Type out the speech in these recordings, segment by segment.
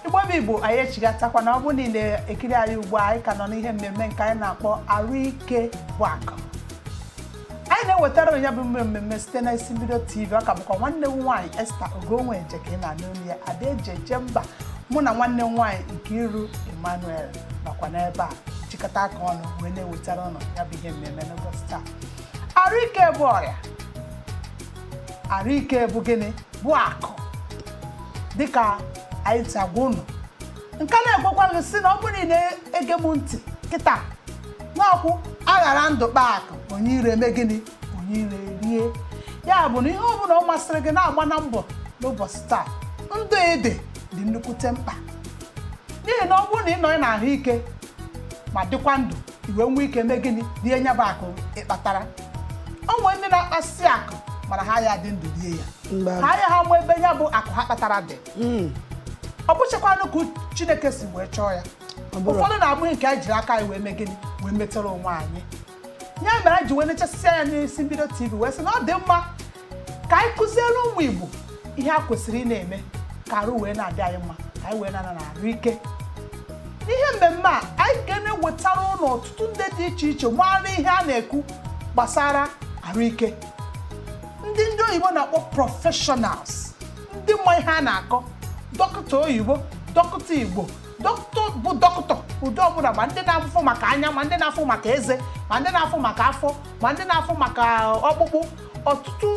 igbo bụ igbo anyị echigatakwana ọ bụrụ na ị na-ekiri anyị ugbu a anyị ka nọ n'ihe mmemme nke anyị na-akpọ arụ ike bụ akụ anyị na-ewetara ụnụ ya bụ mme mmemme site na isi mbido tv ọ ka bụkwa nwanne m nwaanyị esther ogonwe nje ka ị na-anụ olu ya ada eji eje mba mụ na nwanne m nwaanyị nkiru emmanuel nọkwa n'ebe a jikọta aka ọnụ wee na-ewetara ụnụ ya bụ ihe mmemme n'ụbọchị taa arụ ike bụ ọrịa arụ ike bụ gịnị bụ akụ dịka anyị si agwa unu m ka na-agwakwa gị sị na ọ bụrụ na ị na-ege m ntị kịta n'ọkwụ aghara ndụ kpaa akụ onye iro eme gịnị onye iro erie ya bụ na ihe ọbụla ọ masịrị gị na-agba na mbọ n'ụbọchị taa ndụ ị dị dị nnukwute mkpa n'ihi na ọ bụrụ na ị nọ n'ahụ ike ma dịkwa ndụ ị wee nwee ike mee gịnị rie nya bụ akụ ị kpatara o nwere ndị na-akpasi akụ mana ha aya adị ndụ rie ya ha aya ama ebe ya bụ akụ ha kpatara dị hmm. ọ bụchakwanụ ka chineke si wee chọọ ya ụfọdụ na-abụghị nke anyị jiri aka anyị wee mee gịnị wee metere onwe anyị ya mere anyị ji wee nechasịa ya n'isi mbido tv wee sị na ọ dị mma ka anyị kụziere ụmụ Igbo ihe a kwesịrị ịna-eme ka arụ wee na-adị anyị mma ka anyị wee na-anọ na arụ ike n'ihe mmemme a anyị ga na-ewetara ụnụ ọtụtụ ndị dị iche iche maara ihe a na-ekwu gbasara arụ ike ndị ndị oyibo na-akpọ professionals ndị ma ihe a na-akọ dọkịta oyibo dọkịta igbo dọkịta bụ dọkịta ụdị ọbụla ma ndị na-afụ maka anya ma ndị na-afụ maka eze ma ndị na-afụ maka afọ ma ndị na-afụ maka ọkpụkpụ ọtụtụ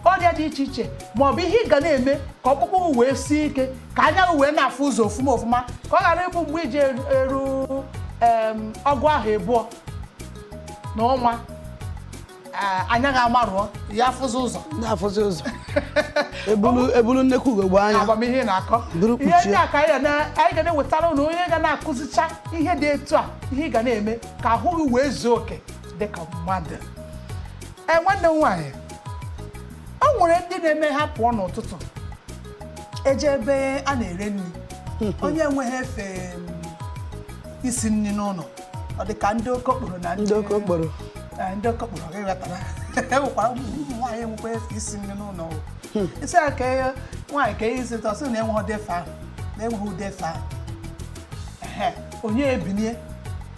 ọrịa dị iche iche ma ọ bụ ihe ị ga na-eme ka ọkpụkpụ gị wee sie ike ka anya gị wee na-afụ ụzọ ofụma ofụma ka ọ ghara ịbụ mgbe ị ji eru- eru em, ọgụ ahọ abụọ na ọnwa eh, anya gị amarụọ ya afụzi ụzọ na-afụzi ụzọ ebulu ebulu nnekwu ugogbe anya ama m ihe ị na-akọ Buru ihe kpuchie. ndị a ka anyị ga na- anyị ga na-ewetara ụnụ onye ga na-akụzicha ihe dị etu a ihe ị ga na-eme ka ahụ gị wee zuo oke dị ka mmadụ ee nwanne m nwaanyị o nwere ndị na-eme ha pụọ n'ụtụtụ eje ebe a na-ere nri onye enweghị efe mm, isi nri n'ụlọ ọ dị ka ndị okokporo na ndị oke okporo Ee, ndị okokporo ị ghọtara e nwekwara ụmụ nwaanyị enwekwa efe isi nri n'ụlọ o. isi a ka ihe- nwaanyị ka ihe isi ite ọ sị na enweghị ụdị efe ahụ na enweghị ụdị efe ahụ Ehe, onye ebinie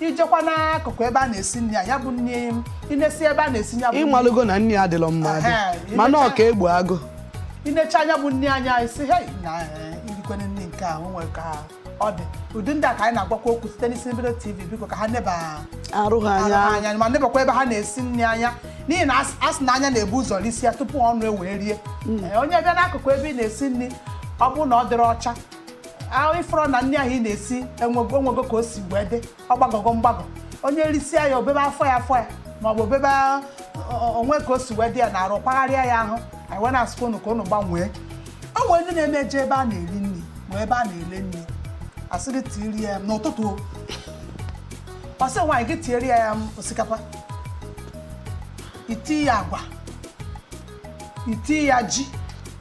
ị jekwa n'akụkụ ebe a na-esi nri ya ya bụ nri m ị nesie ebe a na-esi ya bụ nri ị malụgo na nri adịlọ mma adị Ehe, mana ị necha- ọka egbu agụ ị necha nya bụ nri anya ị sị hei na eh, irikwene nri nke ahụ nwere ka ọ dị ụdị ndị a ka anyị na-agwakwa okwu site n'isi mbido tv biko ka ha neba arụ ha arụ ha anya anya ma nebakwa ebe ha na-esi nri anya n'ihi na as- asị na anya na-ebu ụzọ risi ya tupu ọnụ ewee rie Eh, onye bịa n'akụkụ ebe ị na-esi nri ọ bụrụ na ọ dịrị ọcha ahụ ị fụrụ na nri ahụ ị na-esi enwego enwego ka o si wee dị ọ gbagọgo mgbagọ onye risịa ya o bebe afọ ya afọ ya ma ọ bụ o bebe ọ- ọ- o nwee ka o si wee dị ya n'arụ kpagharịa ya ahụ anyị wee na-asịkwa unu ka unu gbanwee o nwere ndị na-eme eje ebe a na-eri nri ma ebe a na-ele nri a sị gị tiiri ya n'ụtụtụ o. ọ sị nwaanyị gị tiere ya ya osikapa iti ya agwa iti ya ji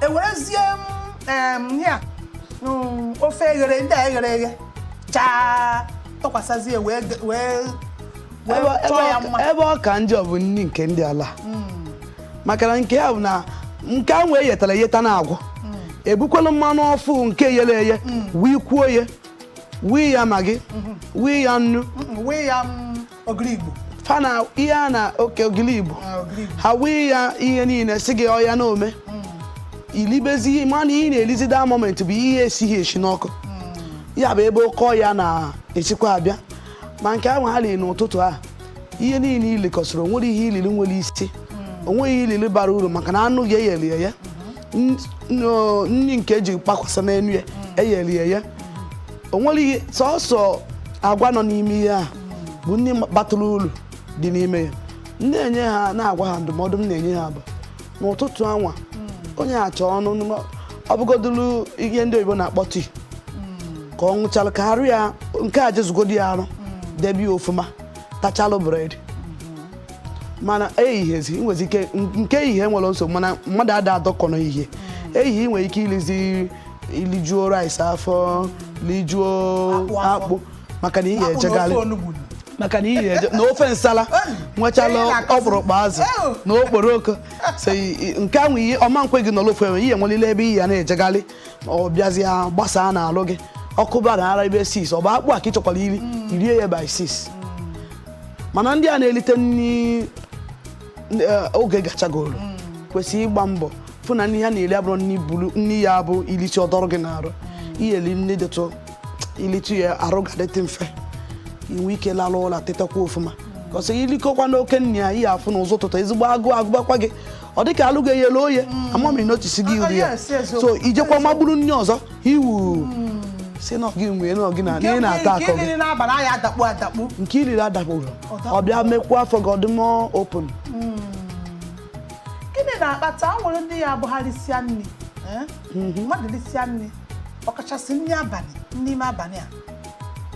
e werezie m ya mm, ofe eghere ndị a eghere eghe chaa tụkwasịzie wee wee chọọ ya mma ebe ọ ka njọ bụ nri nke ndị ala mm. maka na nke ya bụ na nke ahụ eyetara eyeta na agwọ mm. ebukwala mmanụ ọfụ nke yere eye wee kwuo ya wii ya maggi mm-hmm. wii ya nnu mm-hmm. ogiri igbo fa na ihe a na oke ogiri igbo ah, ogiri igbo ha wee ya ihe niile sị gị oya na ome i libezi ihe mana ihe ị na-elizi that moment bụ ihe esighi esi n'ọkụ ya bụ ebe oke ọya na-esikwa abịa ma nke ahụ ha liri n'ụtụtụ a ihe niile i likọsịrị o nwerọ ihe i liri nwere isi o nweghị ihe i liri bara uru maka na anụ ga-eyeli ya nri nke e ji kpakwasa n'elu ya eyere ya ya o nwere ihe sọsọ agwa nọ n'ime ihe a bụ nri batụrụ uru dị n'ime ya na-enye ha na-agwa ha ndụmọdụ m na-enye ha bụ n'ụtụtụ anwa onye achọ ọnụ ọ bụgodulu ihe ndị oyibo na-akpọ tii ka ọ ṅụchalụ ka arụ ya nke a jezugodu ya arụ debe ya ọfụma tachalụ bread mana eyighezi i nwezi ike nke ehihie enwerọ nsogbu mana mmadụ ada adọkọ n'ehihie ehihie i nwere ike ilizi ilijuo rice afọ lijuo Akpụ afọ. akpụ maka na ị Akpụ na ofe ga-ejegharị onugbu. maka na ị ga-eje na ofe nsala nwechala Ee, na-akọzi. ọkpụrụkpụ azụ Ew. na okporoko so i- i- nke ahụ ihe ọ ma ekwe gị nọrọ ofu ebe ị ya-enwelili ebe ị ya na-ejegharị ma ọ bịazịa gbasaa n'alụ gị ọ kụbara around ebe six ọ bụ akpụ a ka ị chọkwara iri i rie ya by six mana ndị a na-elite nri eh, oge gachagoro kwesịrị ịgba mbọ fụ na nri ha na-eri abụrọ nri bụrụ nri ya bụ i lichaa ọ dọrọ gị n'arụ ị ya-eli nri dịtụ i lichaa ya arụ gị adịtụ mfe i nwee ike lalụ ụla tetakwa ọfụma ka ọ sị i likọkwa n'oke nri ya ị ya-afụ na ụzọ ụtụtụ ezigbo agụụ agụbakwa gị ọ dịka alụ ga eyelu oye mm. amamiri n'otisi gị uri ya so i jekwa magburu nri ọzọ iwu mm. si na gị nwee na gị na ị na-ata akọ gị nke i riri adakpụrụ ọ bịa mekwa afọ gị ọdịmọ open mm. gịnị na-akpata o nwere ndị ya abụ ha risịa nri eh? mhm. mmadụ risịa nri ọkachasị nri abalị n'ime abalị a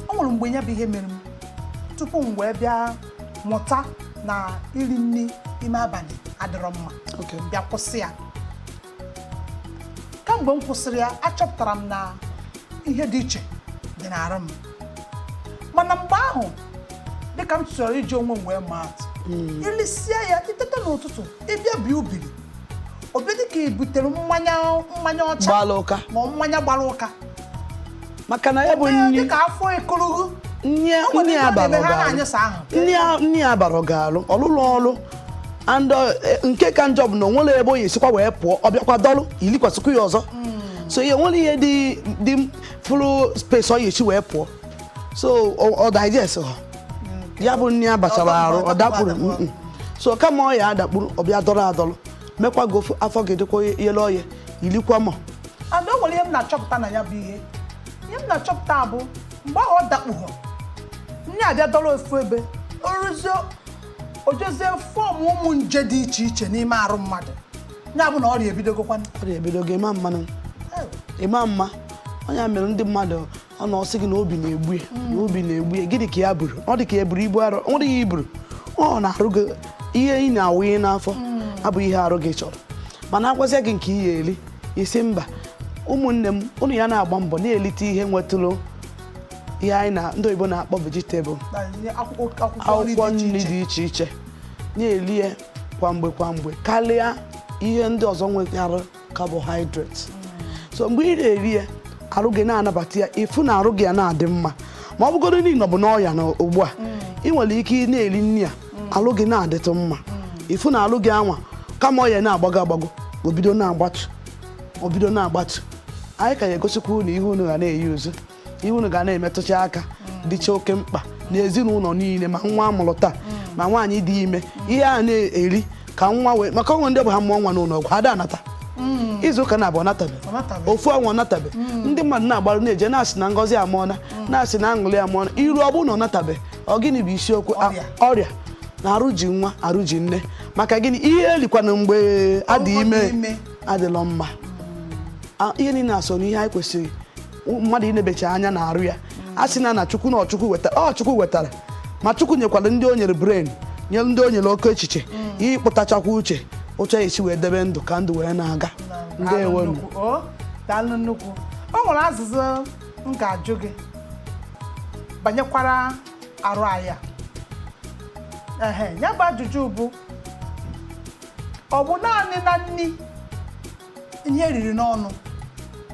o nwere mgbe ya bụ ihe mere m tupu m wee bịa mụta na iri nri ime abalị adịrọ mma bịa kwụsị ya kamgbe m kwụsịrị ya achọpụtara m na ihe dị iche dị n'arụ m mana mgbe ahụ dịka m chọrọ iji onwe m wee maa atụ ilisie ya iteta n'ụtụtụ ịbịa bie ubiri ọ bịa dị ka i butere mmanya mmanya ọcha gbara ụka ma ọ mmanya gbara ụka maka na ya bụ nri dị ka afọ ekologo nri a bara ọgaranya ọlụlụ ọlụ and uh, eh, nke ka njọ bụ na onwere ebe onye esikwa wee pụọ ọ bịakwa dọlụ ilikwasịkwa ya ọzọ so ihe nwere ihe dị dị fụrụ space ọ ya esi wee pụọ so ọ ọ digest ha ya bụ nni abachara arụ ọ dakpuru mm, mm. so kama ọ ya adakpuru ọ bịa dọrọ adọrọ mekwa gị afọ gị dịkwa yele ọya ilikwa mọ and o nwere ihe m na-achọpụta na ya bụ ihe ihe m na-achọpụta bụ mgbe ahụ ọ dakpughọ nni abịa dọrọ ofu ebe oruzie ojezie fọm ụmụ nje dị iche iche n'ime arụ mmadụ ya bụ na ọrịa ebidogokwa ọrịa ebidogo ịma mmanụ ịma mma ọ ya mere ndị mmadụ ọ na-asị gị na obi na-egbu ya na obi na-egbu ya gịnị ka ya buru ọ dị ka ya buru ibu arụ ọ dịghị iburu ọ na-arụ gị ihe ị na-awụnye n'afọ abụghị ihe arụ gị chọrọ mana agwazịa gị nke ị ya-eri ị sị mba ụmụnne m ụnụ ya na-agba mbọ na-elite ihe nwetụrụ ihe anyị na ndị oyibo na-akpọ vegetable akwụkwọ nri dị iche iche na-eli ya kwa mgbe kwa mgbe karịa ihe ndị ọzọ nwetara carbohydrates so mgbe ị na-eri ya arụ gị na-anabata ya ịfụ na arụ gị ya na-adị mma ma ọ bụgodu na ị nọbu n'ọya na ugbu a ị nwere ike ị na-eri nri a arụ gị na-adịtụ mma ịfụ na arụ gị anwa kama ọya na-agbago agbago obido na-agbatu obido na-agbatu anyị ka ya egosikwa unu ihe unu ga na-eyi uzu ihe unu ga na-emetụcha aka dịcha oke mkpa n'ezinụlọ niile ma nwa amụrụ taa ma nwaanyị dị ime ihe a na-eri ka nwa wee maka o nwe ndị ọ bụ ha mụọ nwa n'ụlọ ọgwụ ada anata izu ụka naabọ ọ natabe ofu ọnwa ọ natabe ndị mmadụ na-agbarụ na-eje na-asị na ngọzi amụọna na-asị na aṅụrị amụọna i ruo ọ bụrụ na ọ natabe ọ gịnị bụ isiokwu ọrịa na arụ ji nwa arụ ji nne maka gịnị ihe elikwana mgbe adị ime adịlọ mma ihe niile a so na ihe anyị kwesịrị mmadụ inebecha anya na arụ ya a sị na na chukwu na ọ chukwu wetara ma chukwu nyekwara ndị o nyere brain nye ndị o nyere oke echiche ịkpụtachakwa uche ụcha esi wee debe ndụ ka ndụ wee na-aga daalụ nnukwu o nwere ajụjụ m ga-ajụ gị banyekwara arụ anyị a. ehe ya bụ ajụjụ bụ ọ bụ naanị na nni ihe eriri n'ọnụ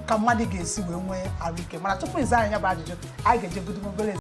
ka mmadụ ga-esi wee nwee arụike mana tupu ịza anyị ya bụ ajụjụ anyị ga-ejegodu obere